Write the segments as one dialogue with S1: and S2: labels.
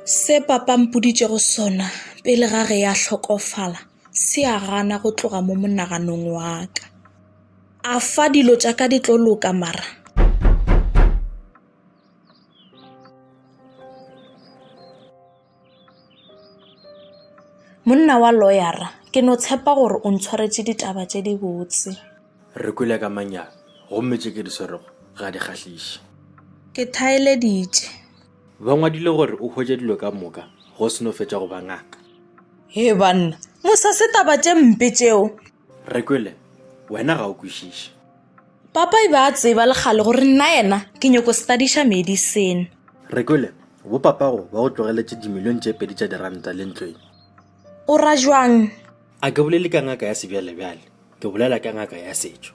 S1: Se papa mpoditšego sona pele ga ge ya hlokofala se a gana go tloga mo monaganong wa ka. A fa dilo tša ka di tlo loka mara Monna wa loyara, ke no tshepa gore o ntshwaretše ditaba tše dibotse. Re kwele ka
S2: manyami, gomme tše ke di swerego ga di kgahliše. Ke
S1: thaeleditše. Ba
S2: ngwadile gore o hwetše dilo ka moka ge o se no fetša go ba ngaka. Hee
S1: banna, mo sa se taba tše mpe tšeo! Re kwele,
S2: wena ga o kwešiše. Papa e
S1: be a tseba le kgale gore nna yena ke nyoko studiša medicine. Re kwele,
S2: bo papago ba go tlogeletše dimilione tše pedi tša diranta le ntlo ye. O ra
S1: jwang? A ke bolele ka
S2: ngaka ya sebjalebjale, ke bolela ka ngaka ya setšo.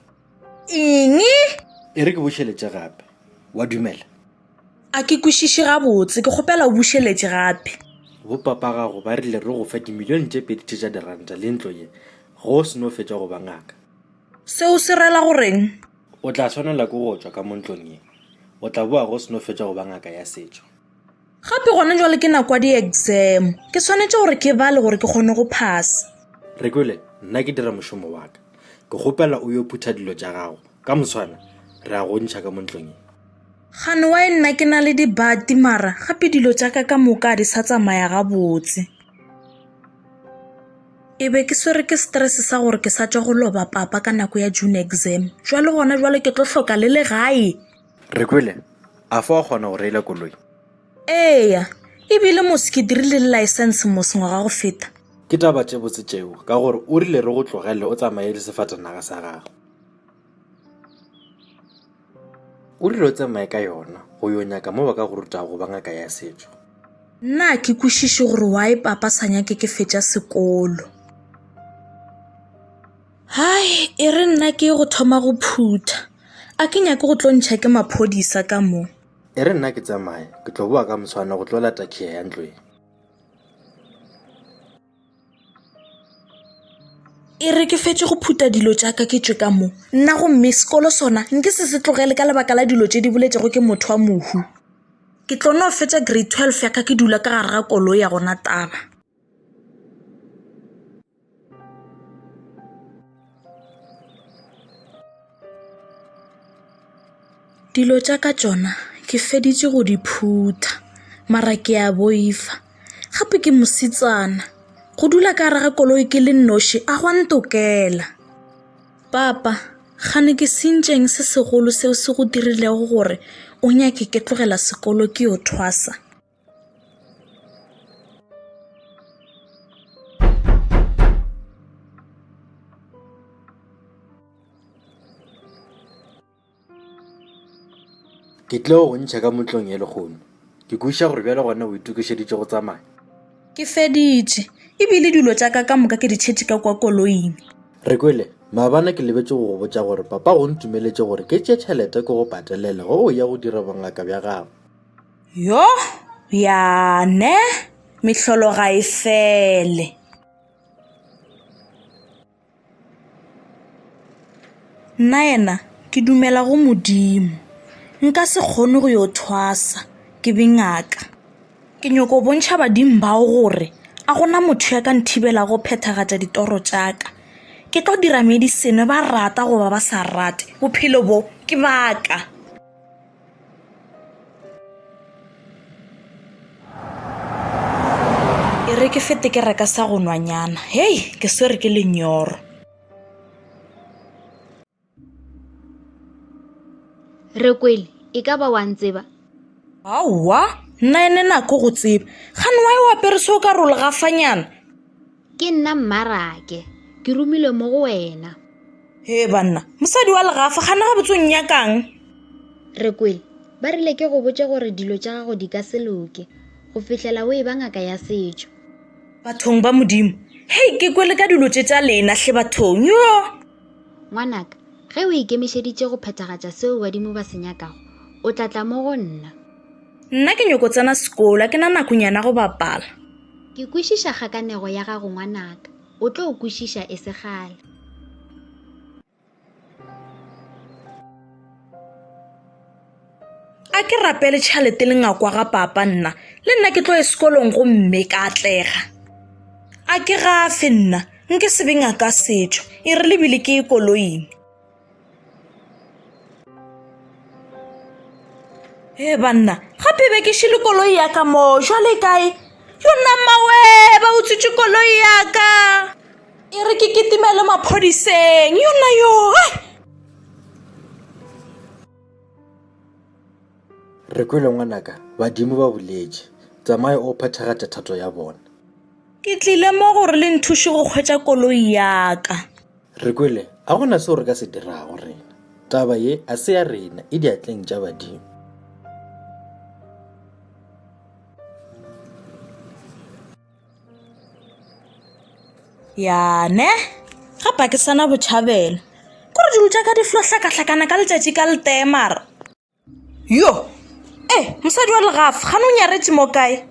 S2: Eng?
S1: E re
S2: ke bušeletše gape, wa dumela? A ke
S1: kwešiše gabotse, ke kgopela o bušeletše gape. Bopapa
S2: gago ba rile re go fe dimilione tše pedi tše tša diranta le ntlo ye ge o se no fetša go ba ngaka. Seo se
S1: rela go reng? O tla swanela
S2: ke go tšwa ka mo ntlong ye, o tla boa ge o se no fetša go ba ngaka ya setšo. Gape
S1: gona jwale ke nako ya di-exam, ke swanetše gore ke bale gore ke kgone go phasa. Re kwele,
S2: nna ke dira mošomo wa ka. Ke kgopela o yo phutha dilo tša gago, ka moswana re a go ntšha ka mo ntlong ye. Gane wa e
S1: nna ke na le dibati mara gape dilo tša ka ka moka a di sa tsamaya gabotse. E be ke swere ke stress sa gore ke sa tšwa go loba papa ka nako ya June exam. Jwale gona jwale ke tlo hloka le legae. Re kwele,
S2: a fa wa kgona go reila koloi? Eya,
S1: ebile mos ke dirile le license mos ngwaga go feta. Ke taba tše botse
S2: tšeo ka gore o rile re go tlogele o tsamaye le sefatanaga sa gago. O rile o tsamaye ka yona go yo nyaka mo ba ka go rutago go ba ngaka ya setšo. Nna a ke
S1: kwešiše gore wa e papa sa nyake ke fetša sekolo. Hai, e re nna ke go thoma go phutha. A ke nyake go tlo ntšha ke maphodisa ka mo. E re nna ke
S2: tsamaye, ke tlo boa ka moswana go tlo lata khiya ya ntlweng.
S1: e re ke fetše go phuta dilo tša ka ke tšwe ka mo nna gomme sekolo sona nke se se tlogele ka lebaka la dilo tše di boletšego ke motho wa mohu ke tlo no fetša grade twelve ya ka ke dula ka gare ga kolo ya gona taba Dilo tša ka tšona ke feditše go di phutha, mara ke a boifa. Gape ke mosetsana, go dula ka gare ga koloi ke le noši a go a ntokela. Papa, kgane ke sentšeng se segolo seo se go dirilego gore o nyake ke tlogela sekolo ke yo thwasa?
S2: ke tle go ntšha ka motlong e legono ke kweša gore bjale gona o itokišeditše go tsamaya ke
S1: feditše ebile dilo tša ka ka moka ke di tšhetše ka kwa koloing re kwele
S2: maabana ke lebetse go go botša gore papa go ntumeletše gore ke tše tšhelete ke go patelele go o ya go dira bongaka bja gago Yo,
S1: bjane, mehlolo ga e fele. Nnaena, ke dumela go Modimo. Nka se kgone go yo thwasa, ke be ngaka. Ke nyoko bontšha badimo bao gore a gona motho ya ka nthibela go phethagatša ditoro tša ka. Ke tlo dira medicine ba rata goba ba sa rate, bophelo bo ke ba ka. e re ke fete ke reka sa go nwanyana hei ke swere ke lenyoro
S3: rekwele e ka ba wa ntseba aowa
S1: nna ene nako go tseba gane wa e o apere se o ka role gafanyana Ke
S3: nna Mmarake. Ke romilwe mo go wena. Hee banna,
S1: mosadi wa legafa, gana gabotse o nnyakang? Re
S3: kwele. Ba rile ke go botše gore dilo tša gago di ka se loke go fihlela o e ba ngaka ya setšo. Bathong ba
S1: Modimo. Hei, ke kwele ka dilo tše tša lena, hle bathong, yoo! Ngwanaka,
S3: ge o ikemišeditše go phethagatša seo badimo ba se nyakago, o tla tla mo go nna. Nna ke
S1: nyoko tsena sekolo, a ke na nakonyana go bapala. Ke kwešiša
S3: kgakanego ya gago ngwanaka, o tlo kwešiša e se kgale.
S1: A ke rapele tšhalete le ngakwa ga papa nna, le nna ke tlo ye sekolong go mme ka atlega. A ke gafe nna, nke sebe ngaka setšo, e re lebile ke ye koloing. e banna gape be ke šele koloi ya ka moo jwale kae yo nna mmawe ba utswitse koloi ya ka e re ke ketimele maphodiseng yo nna yo
S2: re kwele ngwanaka badimo ba boletše tsamaye o phethagatša thato ya bona ke tlile
S1: mo gore le nthuše go kgwetsa koloi ya ka Re kwele,
S2: a go na seo re ka se dirago rena. Taba ye a se ya rena, e diatleng tša badimo.
S1: yane ga pakisana botšhabelo kore dilo tša ka di flo hlakahlakana ka letšatši ka letemara Yo! E, mosadi wa legafa, gane o nyaretše mo kae?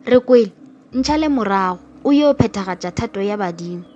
S3: Re kwele, ntšhale morago, o yo phethagatša thato ya badimo.